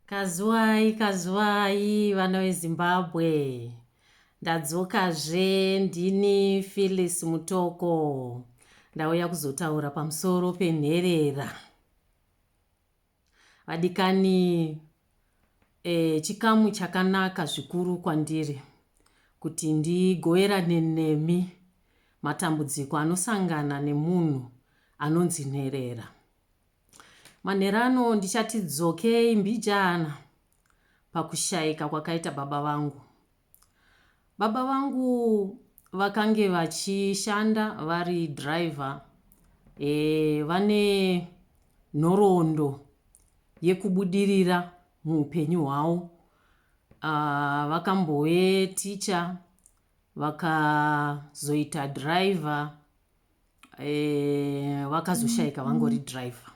Kazuwai, kazuwai vana veZimbabwe. Ndadzokazve ndini Phyllis Mutoko. Ndauya kuzotaura pamusoro penherera. Vadikani e, chikamu chakanaka zvikuru kwandiri kuti ndigoverane nemi matambudziko anosangana nemunhu anonzi nherera. Manheru ano ndichati dzokei mbijana pakushaika kwakaita baba vangu. Baba vangu vakange vachishanda vari driver e, vane nhoroondo yekubudirira muupenyu hwavo. Ah, vakambove ticha vakazoita driver eh, vakazoshaika e, vangori driver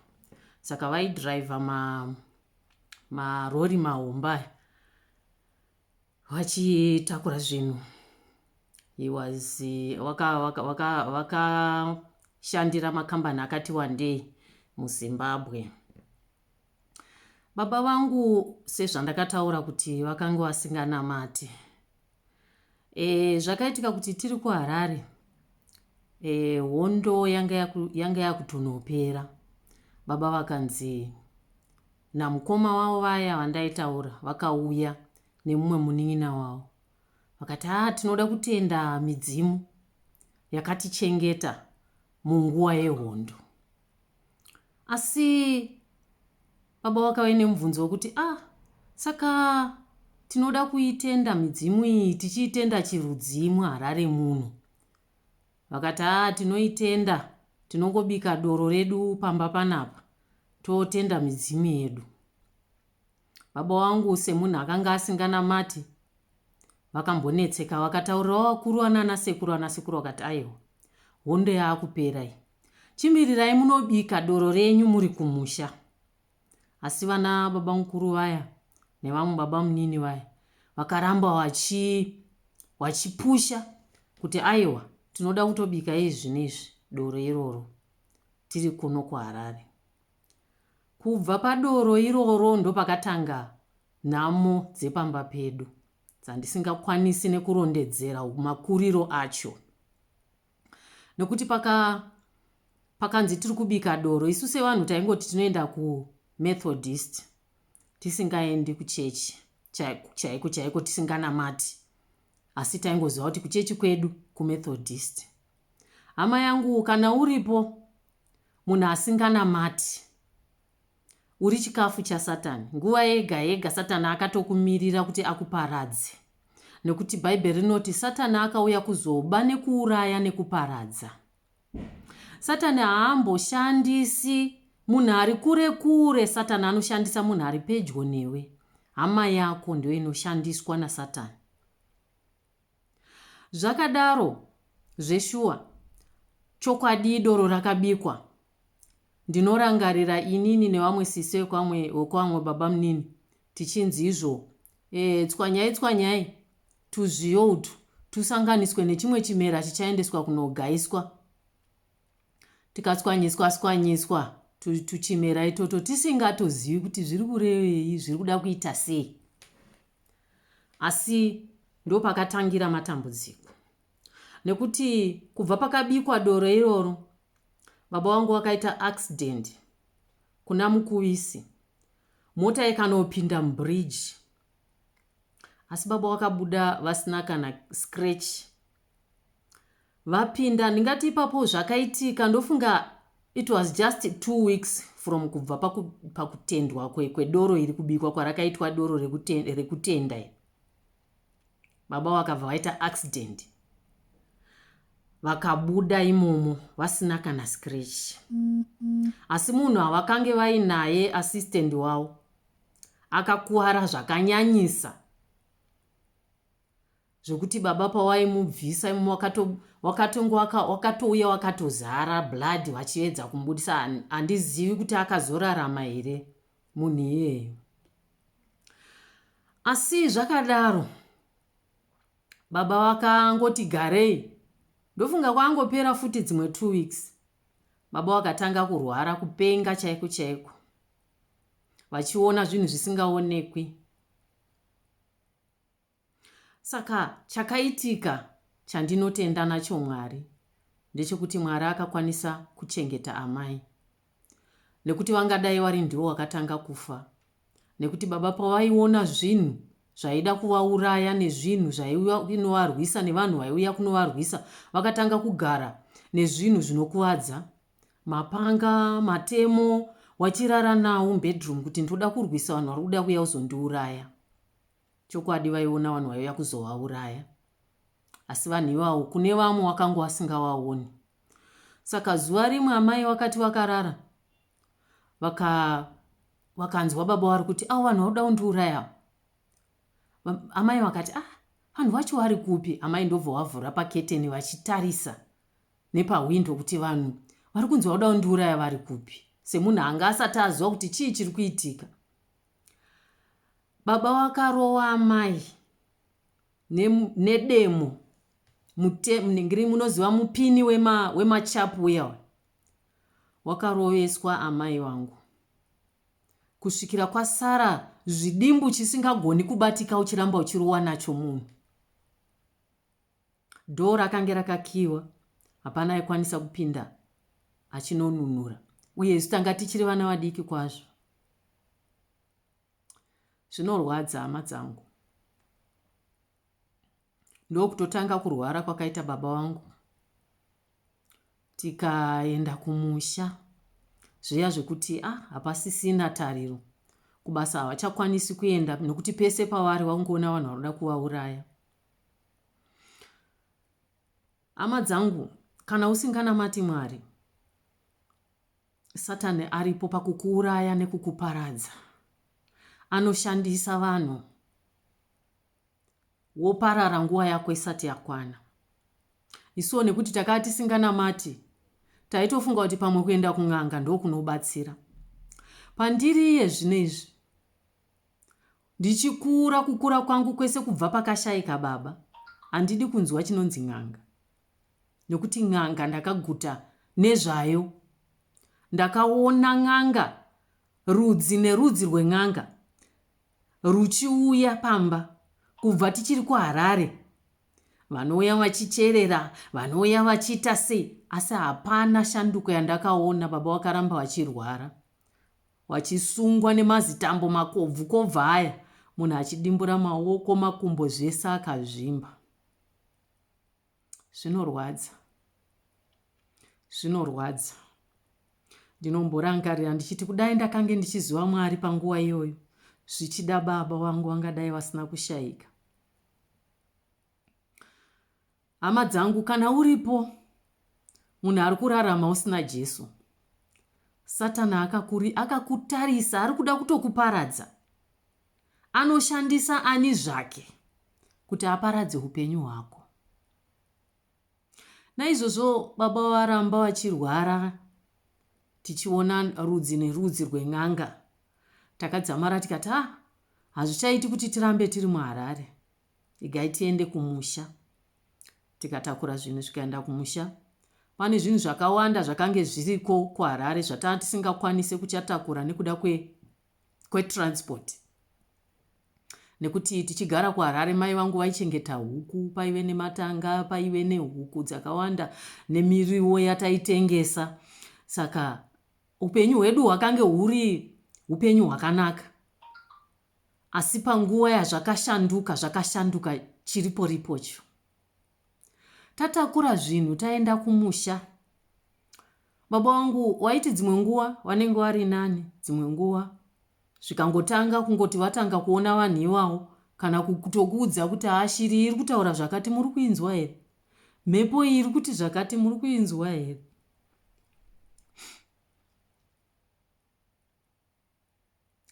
saka vaidriver ma marori mahomba aya vachitakura zvinhu he was vakashandira makambani akati wandei muzimbabwe Baba vangu sezvandakataura kuti vakanga vasinganamati. E, zvakaitika kuti tiri kuHarare e, hondo yanga yakutonopera. Baba vakanzi namukoma wavo vaya vandaitaura vakauya nemumwe munin'ina wavo vakati haa ah, tinoda kutenda midzimu yakatichengeta munguva yehondo Asi baba vakave nemubvunzo wekuti ah saka tinoda kuitenda midzimu iyi tichiitenda chirudzimu harare muno. Vakati ah tinoitenda tinongobika doro redu pamba panapa totenda midzimu yedu. Baba vangu semunhu akanga asinganamati vakambonetseka vakataurirawo vakuru vanana sekuru ana sekuru vakati aiwa hondo yaakupera iyi chimirirai munobika doro renyu muri kumusha asi vana baba mukuru vaya nevamwe baba munini vaya vakaramba vachi vachipusha kuti aiwa tinoda kutobika izvi nezvi doro iroro tiri kuno kuharare Kubva padoro iroro ndopakatanga nhamo dzepamba pedu dzandisingakwanisi nekurondedzera makuriro acho. Nekuti paka pakanzi tiri kubika doro isu sevanhu taingoti tinoenda kumethodist tisingaendi kuchechi chaiko chaiko tisinganamati asi taingoziva kuti kuchechi kwedu kumethodist Hama yangu kana uripo munhu asinganamati uri chikafu chasatani nguva yega yega satani akatokumirira kuti akuparadze nekuti bhaibheri rinoti satani akauya kuzoba nekuuraya nekuparadza satani haamboshandisi munhu ari kure kure satani anoshandisa munhu ari pedyo newe hama yako ndiyo inoshandiswa nasatani Zvakadaro zveshuwa chokwadii doro rakabikwa ndinorangarira inini nevamwe sisi vekwamwe wekwamwe babamunini tichinzi izvo e, tswanyai tswanyai tuzviyo utu tusanganiswe nechimwe chimera chichaendeswa kunogaiswa tikatswanyiswa tswanyiswa tuchimera itoto tisingatozivi kuti zviri kurevei zviri kuda kuita sei asi ndopakatangira matambudziko nekuti kubva pakabikwa doro iroro baba wangu vakaita accident kuna mukuvisi mota ikanopinda mubridge asi baba vakabuda vasina kana scratch Vapinda ndingati ipapo zvakaitika ndofunga it was just two weeks from kubva pakutendwa paku kwedoro kwe iri kubikwa kwarakaitwa doro rekutenda, rekutenda iri baba vakabva vaita accident vakabuda imomo vasina kana scratch mm -hmm. asi munhu avakange vainaye assistant wavo akakuvara zvakanyanyisa zvekuti baba pawaimubvisa imi wakato wakatonge waka, wakatouya wakatozara blood vachiedza kumubudisa handizivi kuti akazorarama here munhu iyeyo asi zvakadaro baba vakangoti garei ndofunga kwangopera futi dzimwe two weeks baba vakatanga kurwara kupenga chaiko chaiko vachiona zvinhu zvisingaonekwi Saka chakaitika chandinotenda nacho Mwari ndechekuti Mwari akakwanisa kuchengeta amai nekuti vangadai vari ndivo vakatanga kufa nekuti baba pavaiona zvinhu zvaida kuvauraya nezvinhu zvainovarwisa nevanhu vaiuya kunovarwisa vakatanga kugara nezvinhu zvinokuvadza mapanga matemo wachirara nawo mubedroom kuti ndoda kurwisa vanhu vari kuda kuya kuzondiuraya Chokwadi vaiona vanhu vaiuya kuzovauraya. Asi vanhu ivawo kune vamwe wakanga wasingawaoni. Saka zuva rimwe amai vakati vakarara vaka vakanzwa baba vari kuti avo vanhu vakuda kundiuraya avo. Amai vakati ah vanhu vacho vari kupi? Amai ndobva vavhura paketeni vachitarisa nepahwindo kuti vanhu vari kunzi vakuda kundiuraya vari kupi. Semunhu anga asati aziva kuti chii chiri kuitika. Baba wakarowa amai nedemo munenge munoziva mupini wemachapu uya wakaroveswa amai vangu kusvikira kwasara zvidimbu chisingagoni kubatika uchiramba uchirowa nacho munhu. Door rakange rakakiiwa hapana aikwanisa kupinda achinonunura uye isu tanga tichiri vana vadiki kwazvo. Zvinorwadza hama dzangu. Ndokutotanga kurwara kwakaita baba vangu tikaenda kumusha zviya zvekuti ah hapasisina tariro kubasa havachakwanisi kuenda nekuti pese pavari vakungoona vanhu vanoda kuvauraya hama dzangu kana usinganamati mwari satani aripo pakukuuraya nekukuparadza anoshandisa vanhu woparara nguva yako isati yakwana isuwo nekuti takaa tisinganamati taitofunga kuti pamwe kuenda kun'anga ndokunobatsira pandiri iye zvino izvi Ndichikura kukura kwangu kwese kubva pakashaika baba handidi kunzwa chinonzi n'anga nekuti n'anga ndakaguta nezvayo. Ndakaona n'anga rudzi nerudzi rwen'anga ruchiuya pamba kubva tichiri kuharare vanouya vachicherera vanouya vachiita sei asi hapana shanduko yandakaona baba vakaramba vachirwara Wachisungwa nemazitambo makobvu kobvu aya munhu achidimbura maoko makumbo zvese akazvimba. Zvinorwadza. Zvinorwadza. Ndinomborangarira ndichiti kudai ndakange ndichiziva Mwari panguva iyoyo zvichida baba vangu vangadai vasina kushaika. Hama dzangu, kana uripo munhu ari kurarama usina Jesu, Satana akakuri akakutarisa, ari kuda kutokuparadza. Anoshandisa ani zvake kuti aparadze upenyu hwako. Naizvozvo baba varamba vachirwara, tichiona rudzi nerudzi rwen'anga. Takadzamara tikati, ah, hazvichaiti kuti tirambe tiri muHarare. Igai tiende kumusha. Tikatakura zvinhu zvikaenda kumusha. Pane zvinhu zvakawanda zvakange zviriko kuHarare zvatanga tisingakwanise kuchatakura nekuda kwe kwetransport. Nekuti tichigara kuHarare mai vangu vaichengeta huku, paive nematanga, paive nehuku dzakawanda nemiriwo yataitengesa. Saka upenyu hwedu hwakange huri upenyu hwakanaka. Asi panguva yazvakashanduka zvakashanduka chiripo ripo cho. Tatakura zvinhu taenda kumusha. Baba wangu waiti dzimwe nguva vanenge vari nani dzimwe nguva zvikangotanga kungoti vatanga kuona vanhu iwawo kana kutokuudza kuti ashiri iri kutaura zvakati muri kuinzwa here mhepo iyi iri kuti zvakati muri kuinzwa here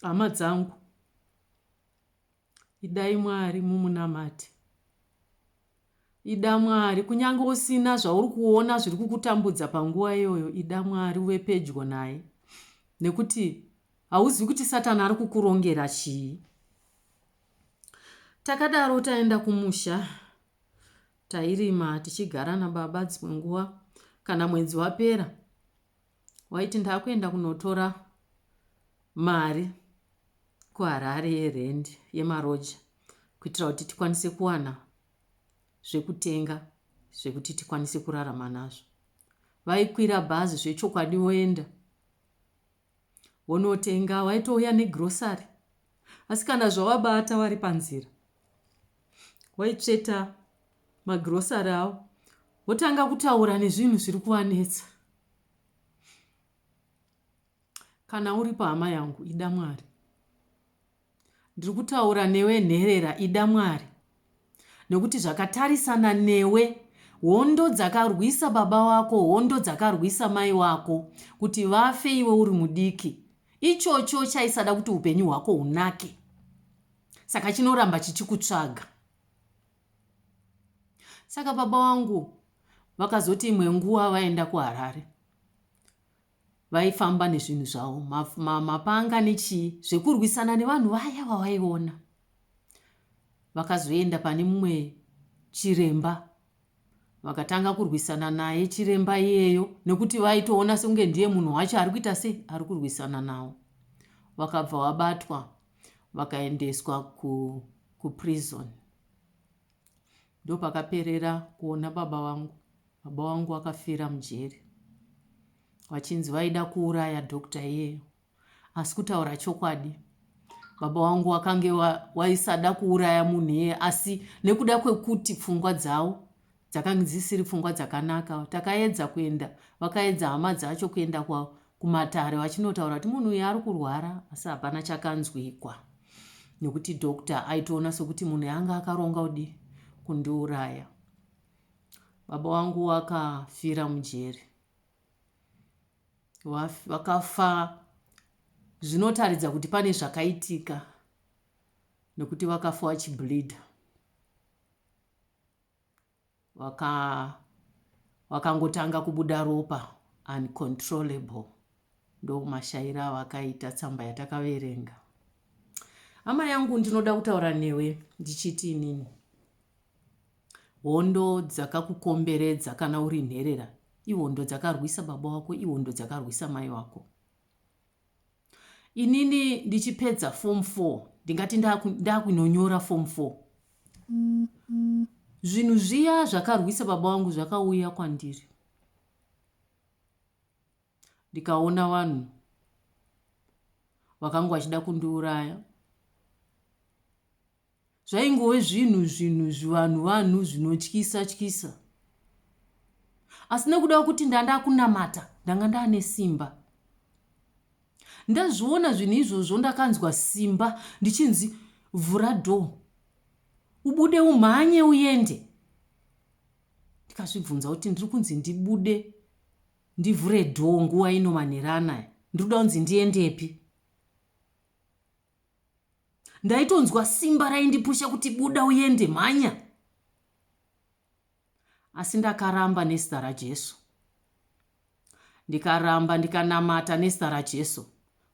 Hama dzangu, idai Mwari mumunamate. Ida Mwari kunyange usina zvauri kuona zviri kukutambudza panguva iyoyo, ida Mwari uve pedyo naye nekuti hauzivi kuti Satani ari kukurongera chii. Takadaro taenda kumusha, tairima tichigara nababa dzimwe nguva. Kana mwedzi wapera, Waiti ndakuenda kunotora mari kuHarare yerent yemaroja kuitira kuti tikwanise kuwana zvekutenga zvekuti tikwanise kurarama nazvo. Vaikwira bhazi zvechokwadi woenda wonotenga, waitouya negrocery asi kana zvawabata wari panzira waitsveta magrocery awo wotanga kutaura nezvinhu zviri kuwanetsa. Kana uripo hama yangu ida Mwari. Ndiri kutaura newe nherera ida Mwari. Nekuti zvakatarisana newe hondo dzakarwisa baba wako hondo dzakarwisa mai wako kuti vafe iwe uri mudiki ichocho chaisada kuti upenyu hwako hunake saka chinoramba chichikutsvaga saka baba vangu vakazoti imwe nguva vaenda kuharare vaifamba nezvinhu zvavo mapanga nechii zvekurwisana nevanhu vaya vavaiona vakazoenda pane mumwe chiremba vakatanga kurwisana naye chiremba iyeyo nekuti vaitoona sekunge ndiye munhu wacho ari kuita sei ari kurwisana nawo vakabva vabatwa vakaendeswa ku kuprison ndopakaperera kuona baba vangu baba vangu vakafira mujeri vachinzi vaida kuuraya doctor iyeyo asi kutaura chokwadi baba vangu wakange waisada kuuraya munhu iyeye asi nekuda kwekuti pfungwa dzavo Dzakange dzisiri pfungwa dzakanaka. Takaedza kuenda, vakaedza hama dzacho kuenda kwa, kumatare vachinotaura kuti munhu uyu ari kurwara, asi hapana chakanzwikwa. Nekuti doctor aitoona sokuti munhu yanga akaronga kudii? Kundiuraya. Baba wangu wakafira mujeri. Vakafa zvinotaridza kuti pane zvakaitika nekuti vakafa vachibleeder. waka wakangotanga kubuda ropa uncontrollable ndomashaira avakaita tsamba yatakaverenga hama yangu ndinoda kutaura newe ndichiti inini hondo dzakakukomberedza kana uri nherera ihondo dzakarwisa baba wako ihondo dzakarwisa mai wako inini ndichipedza form four ndingati ndakunonyora form four zvinhu zviya zvakarwisa baba wangu zvakauya kwandiri ndikaona vanhu vakanga vachida kundiuraya Zvaingove zvinhu zvinhu zvivanhu vanhu zvinotyisa tyisa. Asi nekuda kwekuti ndanda kunamata ndanga ndane simba. Ndazviona zvinhu izvozvo ndakanzwa simba ndichinzi vhura door ubude umhanye uende ndikazvibvunza kuti ndiri kunzi ndibude ndivhure dhoo nguva ino manheranaya ndiri kuda kunzi ndiendepi ndaitonzwa simba raindipusha kuti buda uende mhanya asi ndakaramba nezita rajesu ndikaramba ndikanamata nezita rajesu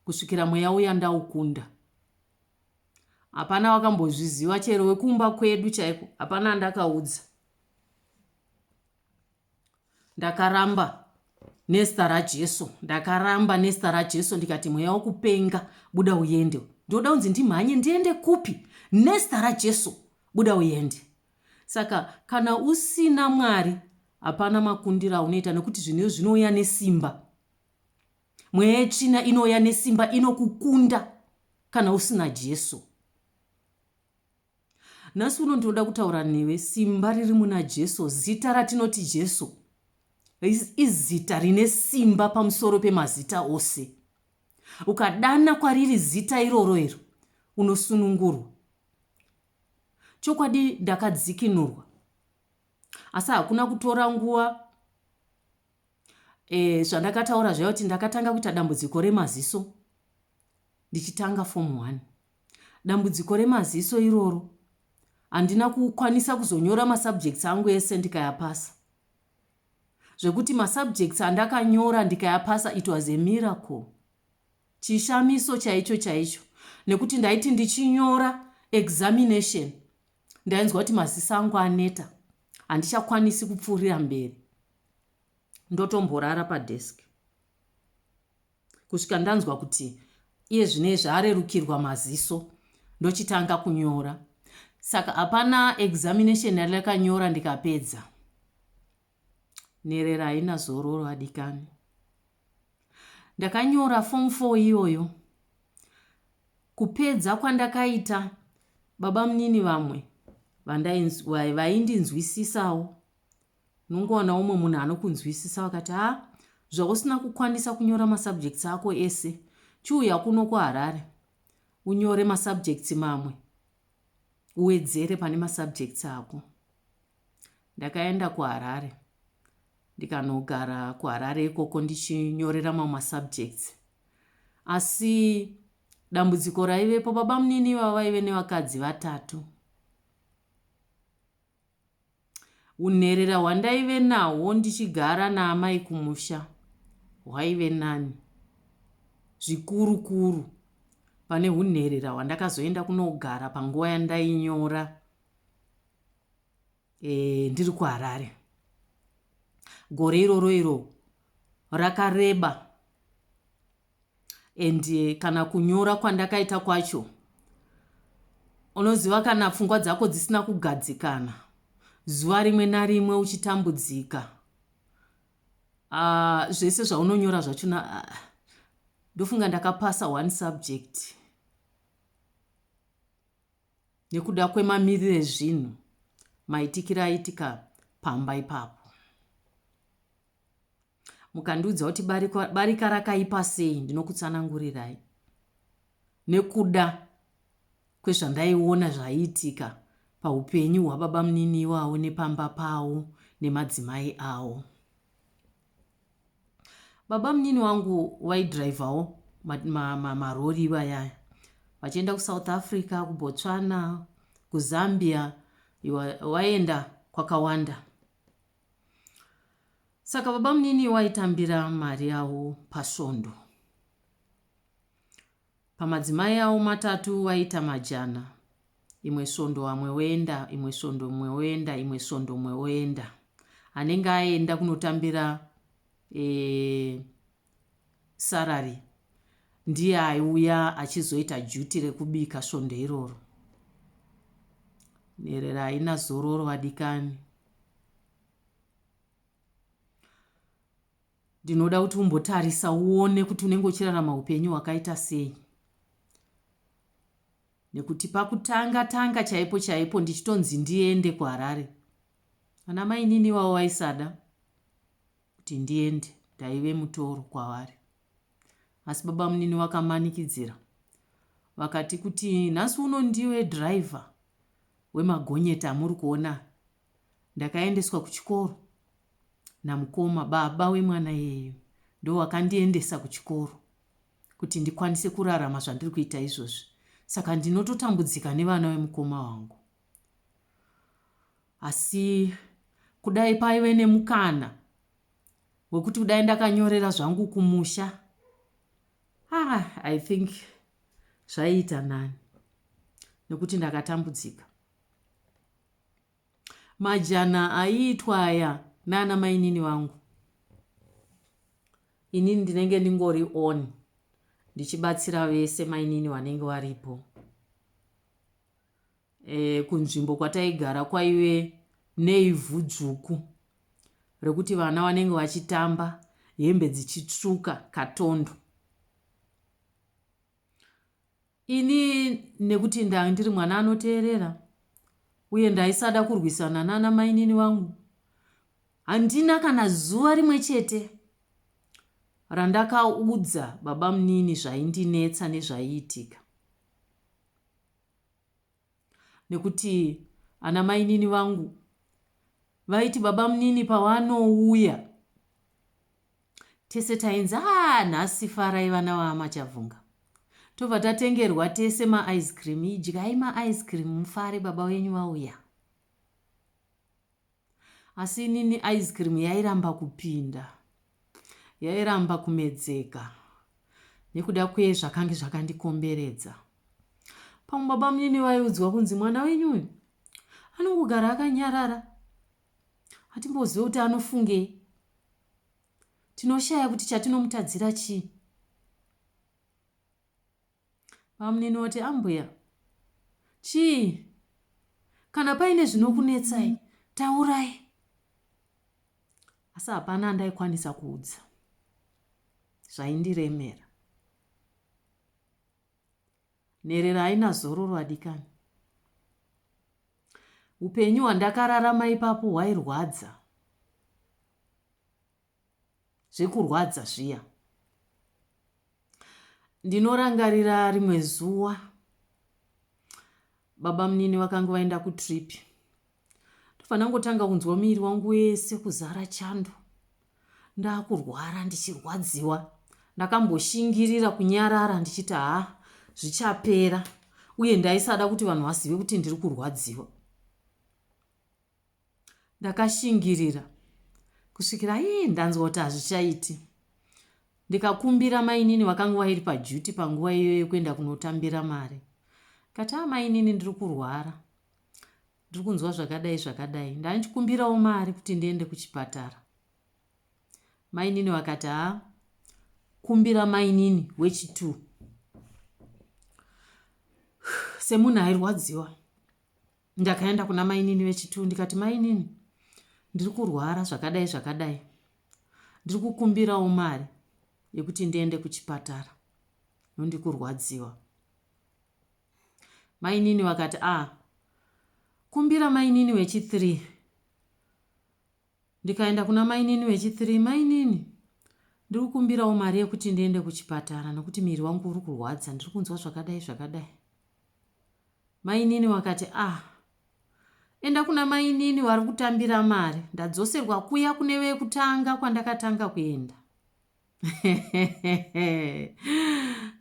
kusvikira mweya uya ndaukunda hapana wakambozviziva chero wekumba kwedu chaiko hapana andakaudza Ndakaramba nezita raJesu. Ndakaramba nezita raJesu ndikati mweya wokupenga buda uyende. Ndinoda kunzi ndimhanye ndiende kupi? Nezita raJesu buda uyende. Saka kana usina Mwari hapana makundira aunoita nekuti zvinhu zvinouya nesimba. Mweya yetsvina inouya nesimba inokukunda kana usina Jesu. Nhasi uno ndinoda kutaura newe. Simba riri muna Jesu. Zita ratinoti Jesu izita rine simba pamusoro pemazita ose. Ukadana kwariri zita iroro iro, unosunungurwa. Chokwadi ndakadzikinurwa. Asi hakuna kutora nguva e, zvandakataura zvaiva kuti ndakatanga kuita dambudziko remaziso ndichitanga fomu one. Dambudziko remaziso iroro. Handina kukwanisa kuzonyora masubjects angu ese ndikayapasa. Zvekuti masubjects andakanyora ndikayapasa it was a miracle. Chishamiso chaicho chaicho nekuti ndaiti ndichinyora examination ndainzwa kuti maziso angu aneta handichakwanisi kupfuurira mberi ndotomborara padesk kusvika ndanzwa kuti iye zvinezvi arerukirwa maziso ndochitanga kunyora saka hapana examination yandakanyora ndikapedza nherera haina zororo adikani ndakanyora form 4 iyoyo kupedza kwandakaita baba munini vamwe vaindinzwisisawo Unongowana umwe munhu anokunzwisisa wakati ha zvausina kukwanisa kunyora masubjects ako ese chiuya kuno kuharare unyore masubjects mamwe uwedzere pane masubjects ako ndakaenda kuharare ndikanogara kuharare ikoko ndichinyorera mamwe masubjects asi dambudziko raivepo babamunini ivavo vaive nevakadzi vatatu Unherera hwandaive nahwo ndichigara naamai kumusha hwaive nani zvikuru kuru pane hunherera hwandakazoenda kunogara panguva yandainyora e, ndiri kuharare gore iroro iro rakareba and eh, kana kunyora kwandakaita kwacho unoziva kana pfungwa dzako dzisina kugadzikana zuva rimwe narimwe uchitambudzika uh, zvese zvaunonyora zvacho na uh, ndofunga ndakapasa one subject nekuda kwemamiriro ezvinhu maitikira aitika pamba ipapo mukandiudza kuti barika, barika rakaipa sei ndinokutsanangurirai nekuda kwezvandaiona zvaiitika paupenyu hwababa munini iwawo nepamba pawo nemadzimai awo baba munini wangu waidhiraivhawo marori ivayaya vachienda kusouth africa kubotswana kuzambia waenda kwakawanda saka babamunini waitambira mari yavo pasvondo pamadzimai avo matatu vaita majana imwe svondo vamwe voenda imwe svondo imwe voenda imwe svondo imwe voenda anenge aenda kunotambira e, Sarary ndiye aiuya achizoita duty rekubika svondo iroro. Nherera haina zororo vadikani. Ndinoda kuti umbotarisa uone kuti unenge uchirarama upenyu hwakaita sei. Nekuti pakutanga tanga chaipo chaipo ndichitonzi ndiende kuHarare. Ana mainini iwawo vaisada. kuti ndiende ndaive mutoro kwavari asi babamunini vakamanikidzira vakati kuti nhasi uno ndiwe driver wemagonyeti amuri kuona ndakaendeswa kuchikoro namukoma baba wemwana yeyu ndowakandiendesa kuchikoro kuti ndikwanise kurarama zvandiri kuita izvozvi saka ndinototambudzika nevana vemukoma wangu Asi kudai paive nemukana wekuti kudai ndakanyorera zvangu kumusha ah, i think zvaiita nani nekuti ndakatambudzika majana aiitwa aya nana mainini vangu inini ndinenge ndingori on ndichibatsira vese mainini vanenge varipo e, kunzvimbo kwataigara kwaive neivhu dzvuku rekuti vana vanenge vachitamba hembe dzichitsvuka katondo ini nekuti ndanga ndiri mwana anoteerera uye ndaisada kurwisana nana mainini vangu handina kana zuva rimwe chete randakaudza babamunini zvaindinetsa nezvaiitika nekuti ana mainini vangu vaiti baba munini pavanouya tese tainzi aa nhasi farai vana vaamachavhunga tobva tatengerwa tese maice cream idyai maice cream mufare baba venyu vauya asi inini ice cream yairamba kupinda yairamba kumedzeka nekuda kwezvakange zvakandikomberedza pamwe baba munini vaiudzwa kunzi mwana wenyu uyu anongogara akanyarara hatimbozive kuti anofungei tinoshaya kuti chatinomutadzira chii Bamunini voti, Ambuya, chii? Kana paine zvinokunetsai, taurai. Asi hapana andaikwanisa kuudza zvaindiremera. Nherera haina zororo adikani. Upenyu hwandakararama ipapo hwairwadza. zvekurwadza zviya ndinorangarira rimwe zuva baba munini vakanga vaenda kutrip ndofanira kungotanga kunzwa muviri wangu wese kuzara chando ndakurwara ndichirwadziwa ndakamboshingirira kunyarara ndichiti haa zvichapera uye ndaisada kuti vanhu vazive kuti ndiri kurwadziwa Ndakashingirira kusvikira ii ndanzwa kuti hazvichaiti ndikakumbira mainini vakanga vairi paduty panguva iyoyo yekuenda kunotambira mari kati amainini ah, ndiri kurwara ndiri kunzwa zvakadai zvakadai ndandichikumbirawo mari kuti ndiende kuchipatara mainini vakati ha ah, kumbira mainini wechitu semunhu airwadziwa Ndakaenda kuna mainini vechituu ndikati mainini ndiri kurwara zvakadai zvakadai ndiri kukumbirawo mari yekuti ndiende kuchipatara nondi kurwadziwa mainini vakati a ah, kumbira mainini wechi3 Ndikaenda kuna mainini vechi three mainini ndirikukumbirawo mari yekuti ndiende kuchipatara nekuti miri wangu uri kurwadza ndiri kunzwa zvakadai zvakadai mainini wakati ah enda kuna mainini vari kutambira mari ndadzoserwa kuya kune vekutanga kwandakatanga kuenda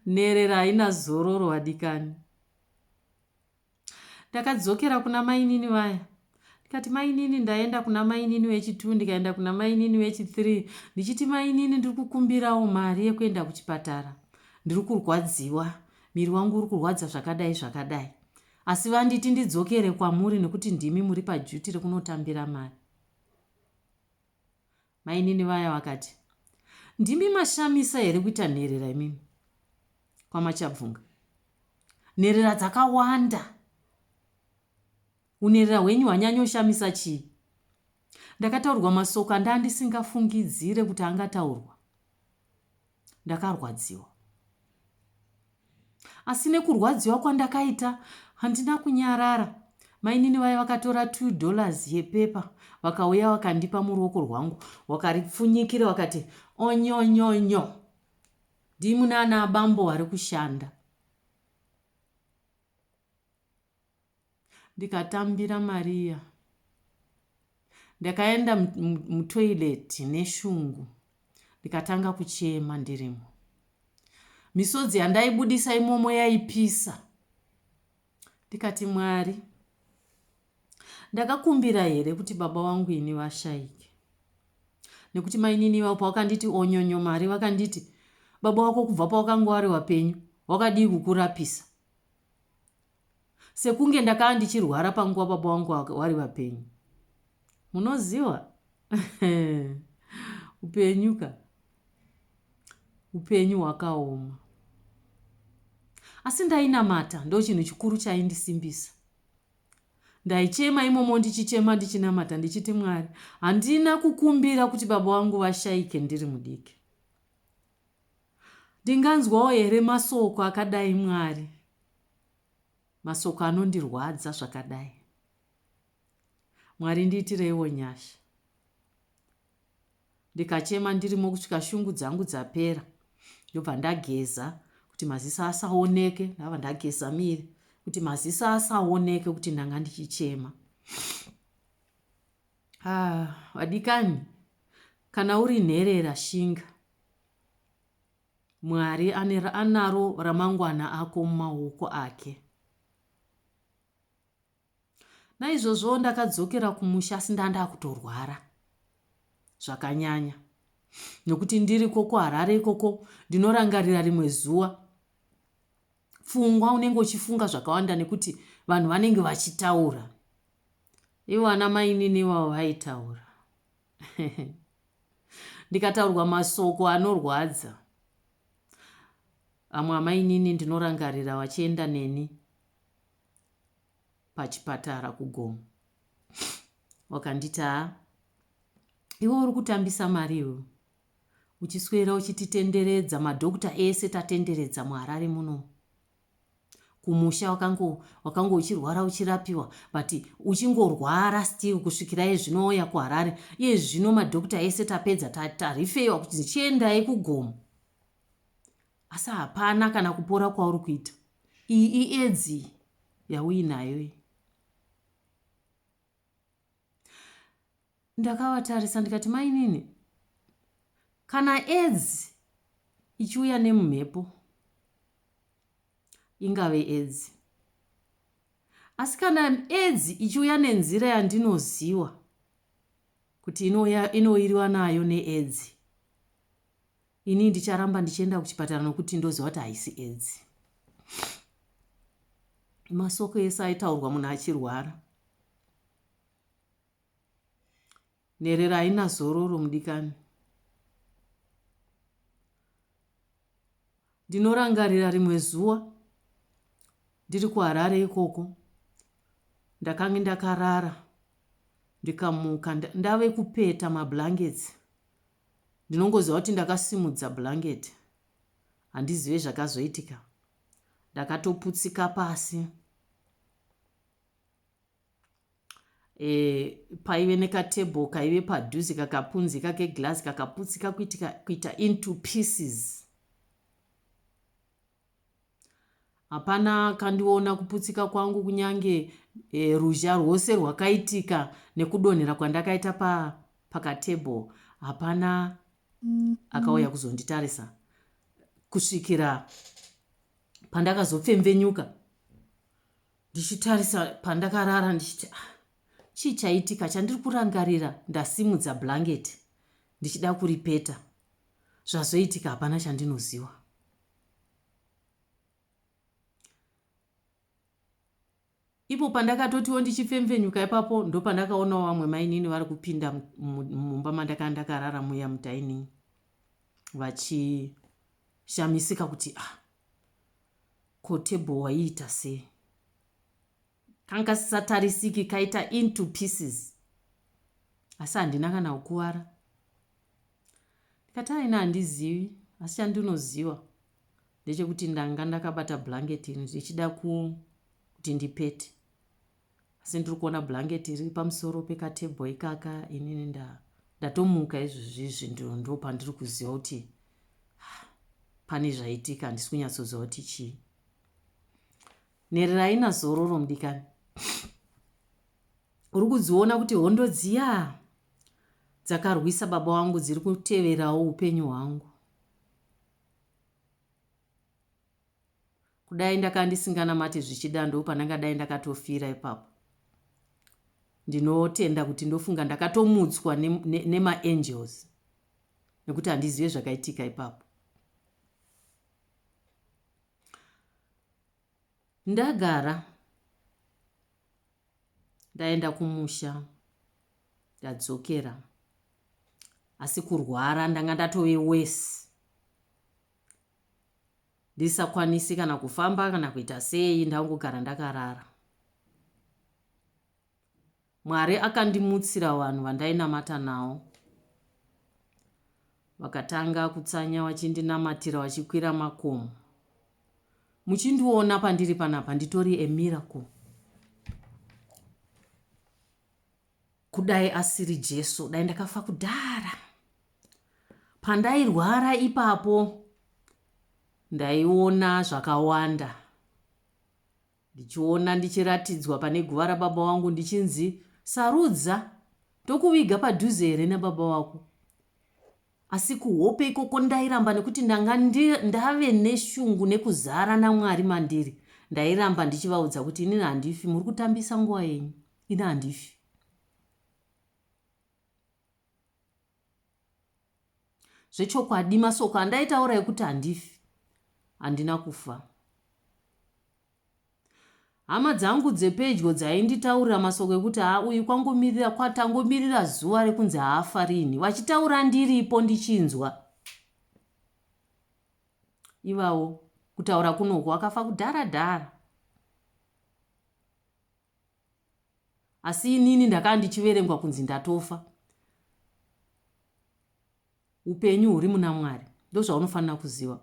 nherera haina zororo vadikani ndakadzokera kuna mainini vaya ndikati mainini ndaenda kuna mainini wechitwo ndikaenda kuna mainini wechithree ndichiti mainini ndiri kukumbirawo mari yekuenda kuchipatara ndiri kurwadziwa miri wangu uri kurwadza zvakadai zvakadai asi vanditi ndidzokere kwamuri nekuti ndimi muri pajuti rekunotambira mari Mainini vaya vakati, Ndimi mashamisa here kuita nherera imimi? KwaMachabvunga. Nherera dzakawanda. Unherera hwenyu hwanyanyoshamisa chii? Ndakataurwa masoko andandi singafungidzire kuti angataurwa. ndakarwadziwa asi nekurwadziwa kwandakaita handina kunyarara mainini vaye vakatora 2 dollars yepepa vakauya vakandipa muruoko rwangu wakaripfunyikira wakati onyonyonyo ndimu naana bambo vari kushanda ndikatambira mari iya ndakaenda mutoilet neshungu ndikatanga kuchema ndirimo misodzi yandaibudisa imomo yaipisa ndikati mwari ndakakumbira here kuti baba wangu ini vashaike nekuti mainini vavo pavakanditi onyonyo mari vakanditi baba wako kubva pawakanga wari wapenyu wakadii kukurapisa sekunge ndakaa ndichirwara panguva baba wangu wari vapenyu munoziva upenyu ka upenyu hwakaoma asi ndainamata ndo chinhu chikuru chaindisimbisa ndaichema imomo ndichichema ndichinamata ndichiti mwari handina kukumbira kuti baba wangu vashaike ndiri mudiki Ndinganzwawo here masoko akadai Mwari masoko anondirwadza zvakadai Mwari ndiitireiwo nyasha ndikachema ndirimo kusvika shungu dzangu dzapera ndobva ndageza kuti maziso asaoneke ndava ndageza miri kuti maziso asaoneke kuti ndanga ndichichema Haa vadikani kana uri nherera shinga mwari anaro ramangwana ako mumaoko ake naizvozvo ndakadzokera kumusha asi ndandakutorwara zvakanyanya nokuti ndiri koko harare ikoko ndinorangarira rimwe zuva pfungwa unenge uchifunga zvakawanda nekuti vanhu vanenge vachitaura ivo ana mainini ivavo vaitaura ndikataurwa masoko anorwadza amwe amainini ndinorangarira vachienda neni pachipatara kugomo wakanditaa iwe uri kutambisa mari iwe uchiswera uchititenderedza madhokta ese tatenderedza muharare muno kumusha wakango wakango uchirwara uchirapiwa but uchingorwara still kusvikira iye zvino wauya kuharare iye zvino madhokta ese tapedza tarifeyiwa kuti ndichiendai kugomo asi hapana kana kupora kwauri kuita iyi iedzi yauinayo iyi ndakavatarisa ndikati mainini kana edzi ichiuya nemumhepo ingave edzi asi kana edzi ichiuya nenzira yandinoziva kuti inoiriwa nayo needzi Ini ndicharamba ndichienda kuchipatara nokuti ndoziva kuti haisi edzi. Masoko ese aitaurwa munhu achirwara. Nherera haina zororo mudikani. Ndinorangarira rimwe zuva ndiri kuharare ikoko ndakange ndakarara ndikamuka ndave kupeta mablankets Ndinongoziva kuti ndakasimudza blanket handizive zvakazoitika ndakatoputsika pasi e, paive nekatable kaive padhuze kakapunzika keglass kakaputsika kuitika, kuita into pieces Hapana akandiona kuputsika kwangu kunyange e, ruzha rwose rwakaitika nekudonhera kwandakaita pa, pakatable. Hapana akauya kuzonditarisa kusvikira pandakazopfemvenyuka ndichitarisa pandakarara ndichiti ah, chii chaitika chandiri kurangarira ndasimudza blanketi ndichida kuripeta zvazoitika hapana chandinoziva ipo pandakatotiwo ndichifemfenyuka ipapo ndopandakaonawo vamwe mainini vari kupinda mumba mandakanga ndakarara muya mudining vachishamisika kuti ah ko table waiita sei kanga sisatarisiki kaita into pieces asi handina kana kukuvara Ndikati ah ini handizivi asi chandinoziva ndechekuti ndanga ndakabata blanket iri ndichida kuti ndipete asi ndiri kuona blanket iri pamusoro pekatable ikaka inini nda ndatomuka izvozvizvi ndo pandiri kuziva kuti ah, pane zvaitika handisi kunyatsoziva kuti chii nherera ina zororo mudikani Uri kudziona kuti hondo dziya dzakarwisa baba wangu dziri kuteverawo upenyu hwangu. Kudai ndakanga ndisinganamati zvichida ndopandangadai ndakatofira ipapo. Ndinotenda kuti ndofunga ndakatomutswa nemaangels ne, ne nekuti handizive zvakaitika ipapo. Ndagara Ndaenda kumusha ndadzokera asi kurwara ndanga ndatove wesi ndisakwanisi kana kufamba kana kuita sei ndangogara ndakarara mwari akandimutsira vanhu vandainamata nawo vakatanga kutsanya vachindinamatira vachikwira makomo muchindiona pandiri panapa nditori a miracle kudai asiri jesu dai ndakafa kudhara pandairwara ipapo ndaiona zvakawanda Ndichiona ndichiratidzwa pane guva rababa wangu ndichinzi sarudza ndokuviga padhuze here nababa wako. Asi kuhope ikoko ndairamba nekuti ndanga ndave neshungu nekuzara naMwari mandiri. Ndairamba ndichivaudza kuti inini handifi muri kutambisa nguva yenyu. Ini handifi. Zvechokwadi masoko andaitaura ekuti handifi handina kufa. Hama dzangu dzepedyo dzainditaurira masoko ekuti haa uyu kwangomirira kwatangomirira zuva rekunzi haafa rini vachitaura ndiripo ndichinzwa ivawo kutaura kunoko akafa kudhara dhara asi inini ndakaa ndichiverengwa kunzi ndatofa upenyu huri muna mwari ndozvaunofanira kuziva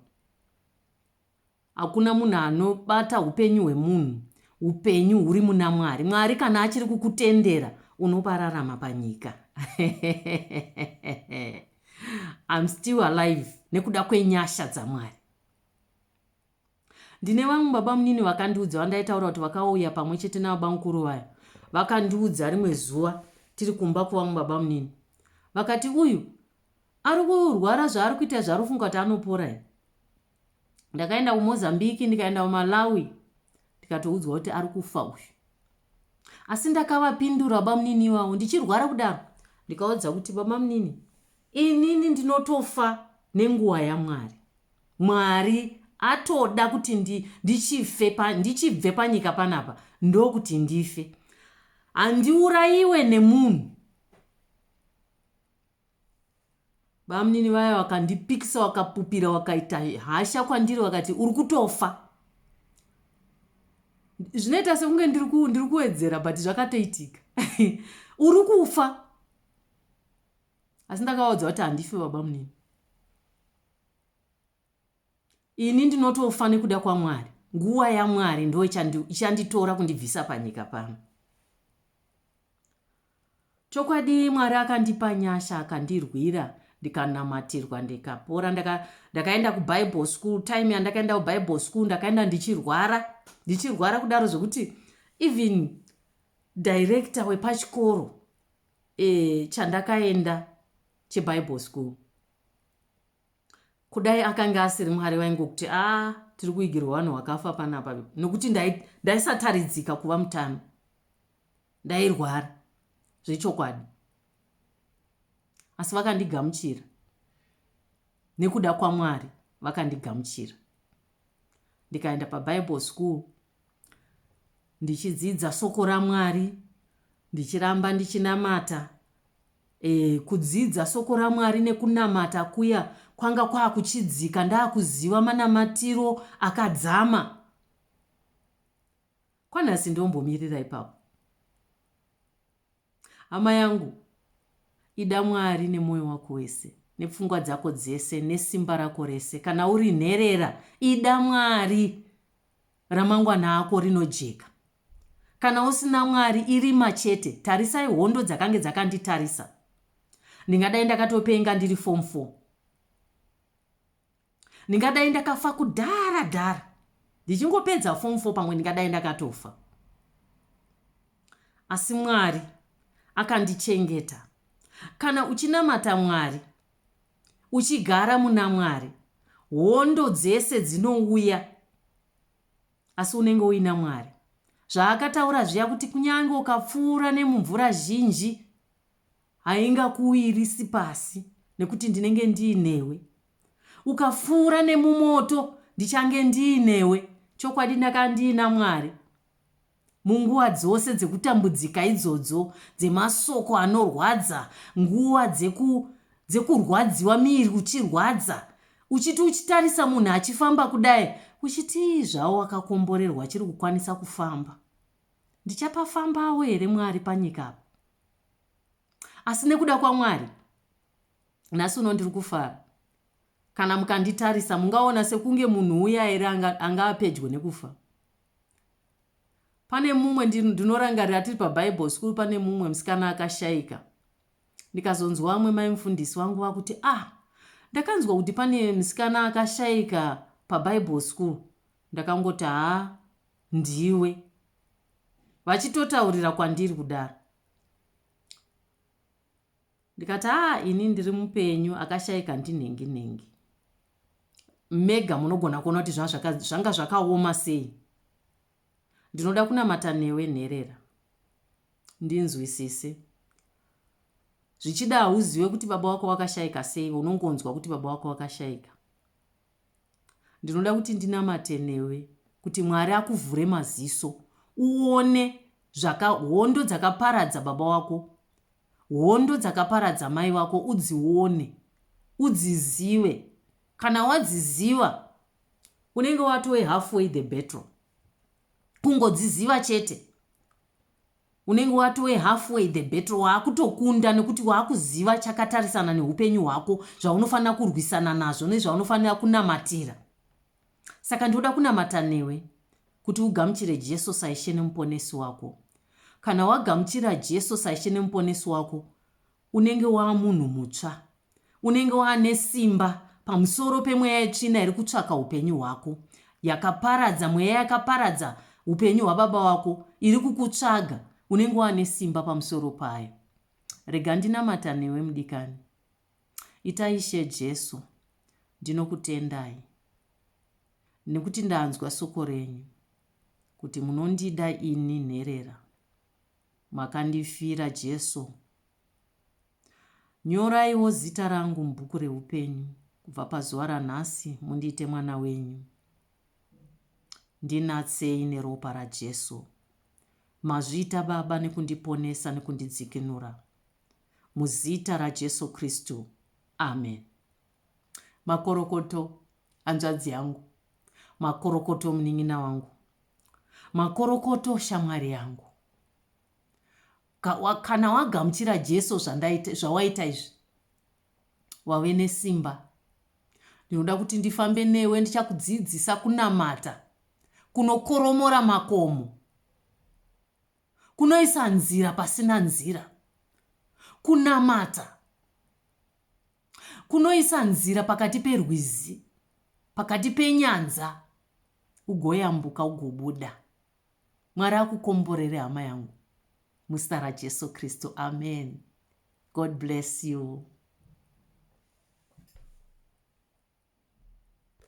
hakuna munhu anobata upenyu hwemunhu upenyu huri muna mwari mwari kana achiri kukutendera unopararama panyika im still alive nekuda kwenyasha dzamwari Ndine vamwe babamunini vakandiudza vandaitaura kuti vakauya pamwe chete nababamukuru vaya. Vakandiudza rimwe zuva tiri kumba kuvamwe babamunini. Vakati uyu ari kurwara zvaari kuita zvaari kufunga kuti anopora here. Ndakaenda kuMozambique ndikaenda kuMalawi ndikatoudzwa kuti ari kufa uyu. Asi ndakavapindura babamunini iwawo ndichirwara kudaro ndikaudza kuti babamunini inini ndinotofa nenguva yaMwari. Mwari atoda kuti ndi, ndichife pa, ndichibve panyika panapa, ndokuti ndife. Handiurayiwe nemunhu. Bamunini vaya vakandipikisa, vakapupira, vakaita hasha kwandiri, vakati, uri kutofa. Zvinoita sekunge ndiri kuwedzera, but zvakatoitika. uri kufa. Asi ndakavaudza kuti handifi babamunini. ini ndinotofa nekuda kwamwari nguva yamwari ndo ichanditora kundibvisa panyika pano chokwadi mwari akandipa nyasha akandirwira ndikanamatirwa ndikapora ndakaenda kubible school time yandakaenda kubible school ndakaenda ndichirwara ndichirwara kudaro zvekuti even director wepachikoro e, chandakaenda chebible school kudai akange asiri mwari vaingokuti a ah, tiri kuigirwa vanhu vakafa panapa nokuti ndaisataridzika dai kuva mutano ndairwara zvechokwadi asi vakandigamuchira nekuda kwamwari vakandigamuchira ndikaenda pabible school ndichidzidza soko ramwari ndichiramba ndichinamata E, kudzidza soko raMwari nekunamata kuya kwanga kwakuchidzika ndakuziva manamatiro akadzama kwanhasi ndombomirira ipapo hama yangu ida mwari nemwoyo wako wese nepfungwa dzako dzese nesimba rako rese kana uri nherera ida mwari ramangwana ako rinojeka. Kana usina Mwari irima chete, tarisai hondo dzakange dzakanditarisa. Ndingadai ndakatopenga ndiri form 4. Ndingadai ndakafa kudhara dhara. Ndichingopedza form 4 pamwe ndingadai ndakatofa. Asi Mwari akandichengeta. Kana uchinamata Mwari, uchigara muna Mwari, hondo dzese dzinouya asi unenge uina Mwari. Zvaakataura zviya kuti kunyange ukapfuura nemumvura zhinji haingakuwirisi pasi nekuti ndinenge ndiinewe. Ukapfuura nemumoto ndichange ndiinewe. Chokwadi ndakandiina Mwari. Munguva dzose dzekutambudzika idzodzo, dzemasoko anorwadza, nguva dzeku, dzekurwadziwa, miiri uchirwadza, uchiti uchitarisa munhu achifamba kudai, uchitii zvawo wakakomborerwa achiri kukwanisa kufamba. Ndichapafambawo here Mwari panyika apa? Asi nekuda kwaMwari, nhasi uno ndiri kufara. Kana mukanditarisa, mungaona sekunge munhu uya here anga, anga apedyo nekufa. Pane mumwe ndinorangarira tiri pabible school pane mumwe musikana akashaika ndikazonzwa vamwe mai mufundisi vangu vakuti ah ndakanzwa kuti pane musikana akashaika pabible school ndakangoti ha ndiwe vachitotaurira kwandiri kudaro Ndikati haa ini ndiri mupenyu akashaika ndinhengi nhengi. Mega munogona kuona kuti zvanga zvakaoma sei. Ndinoda kunamata newe nherera. Ndinzwisise. Zvichida hauziwe kuti baba wako wakashaika sei unongonzwa kuti baba wako wakashaika. Ndinoda kuti ndinamate newe kuti Mwari akuvhure maziso uone zvaka hondo dzakaparadza baba wako hondo dzakaparadza mai vako udzione udzizive kana wadziziva unenge watove halfway the battle kungodziziva chete Unenge watove halfway the battle, waakutokunda nekuti waakuziva chakatarisana nehupenyu hwako, zvaunofanira kurwisana nazvo nezvaunofanira kunamatira. Saka ndoda kunamata newe kuti ugamuchire Jesu saIshe neMuponesi wako. Kana wagamuchira Jesu saIshe neMuponesi wako, Unenge wava munhu mutsva. Unenge wava nesimba pamusoro pemweya yetsvina iri kutsvaka upenyu hwako, yakaparadza, mweya yakaparadza upenyu hwababa wako iri kukutsvaga, unenge wava nesimba pamusoro payo. Rega ndinamata newe mudikani. Ita Ishe Jesu, ndinokutendai nekuti ndanzwa soko renyu kuti munondida ini nherera. Makandifira Jesu. Nyoraiwo zita rangu mubhuku reupenyu kubva pazuva ranhasi mundiite mwana wenyu. Ndinatsei neropa raJesu. Mazviita Baba nekundiponesa nekundidzikinura. Muzita raJesu Kristu. Amen. Makorokoto hanzvadzi yangu. Makorokoto munin'ina wangu. Makorokoto shamwari yangu. Ka, wa, kana wagamuchira Jesu zvandaita, zvawaita izvi, wave nesimba. Ndinoda kuti ndifambe newe, ndichakudzidzisa kunamata kunokoromora makomo kunoisa nzira pasina nzira kunamata Kunoisa nzira pakati perwizi, pakati penyanza, ugoyambuka ugobuda. Mwari akukomborere hama yangu muzita raJesu Kristu. Amen. God bless you.